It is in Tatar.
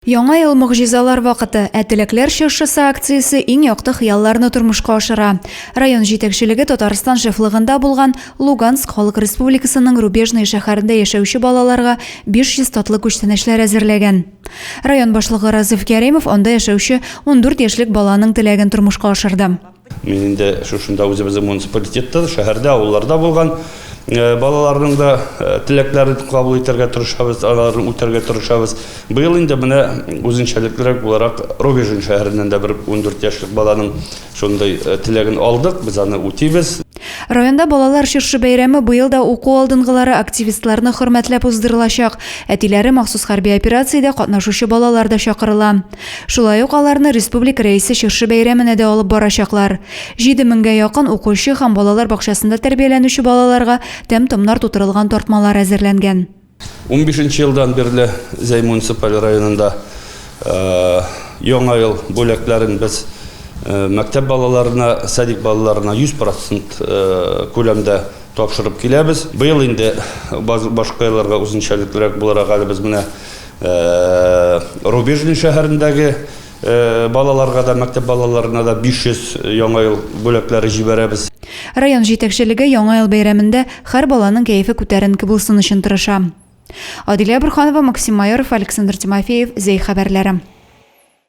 Яңа ел могҗизалар вакыты, ә Теләкләр чыршысы акциясе иң якты хыялларны тормышка ашыра. Район җитәкчелеге Татарстан шефлыгында булган Луганск Халык Республикасының Рубежное шәһәрендә яшәүче балаларга 500 татлы күчтәнәчләр әзерләгән. Район башлыгы Разыйф Кәримов анда яшәүче ундүрт яшьлек баланың теләген тормышка ашырды. Мин инде шушында үзебезнең муниципалитетта да, шәһәрдә, авылларда булган балаларның да теләкләрен кабул итәргә тырышабыз, аларны үтәргә тырышабыз. Быел инде менә үзенчәлеклерәк буларак Рубежин шәһәреннән дә бер 14 яшьлек баланың шундый теләген алдык, без аны үтибез. Районда балалар чыршы бәйрәме быел да уку алдынгылары активистларны хөрмәтләп уздырылачак. Әтиләре махсус хәрби операциядә катнашучы балалар да чакырыла. Шулай ук аларны республика рәисе чыршы бәйрәменә дә алып барачаклар. 7 меңгә якын укучы һәм балалар бакчасында тәрбияләнүче балаларга тәм-томнар тутырылган тартмалар әзерләнгән. Унбишенче елдан бирле Зәй муниципаль районында Яңа ел бүләкләрен без мәктәп балаларына, садик балаларына 100 процент күләмдә тапшырып киләбез. Быел инде башка елларга үзенчәлеклерәк буларак әле без менә Рубежный шәһәрендәге Балаларга да, мәктәп балаларына да 500 Яңа ел бүләкләре җибәрәбез. Район җитәкчелеге Яңа ел бәйрәмендә һәр баланың кәефе күтәренке булсын өчен тырыша. Адилә Борханова, Максим Майоров, Александр Тимофеев, Зәй хәбәрләре.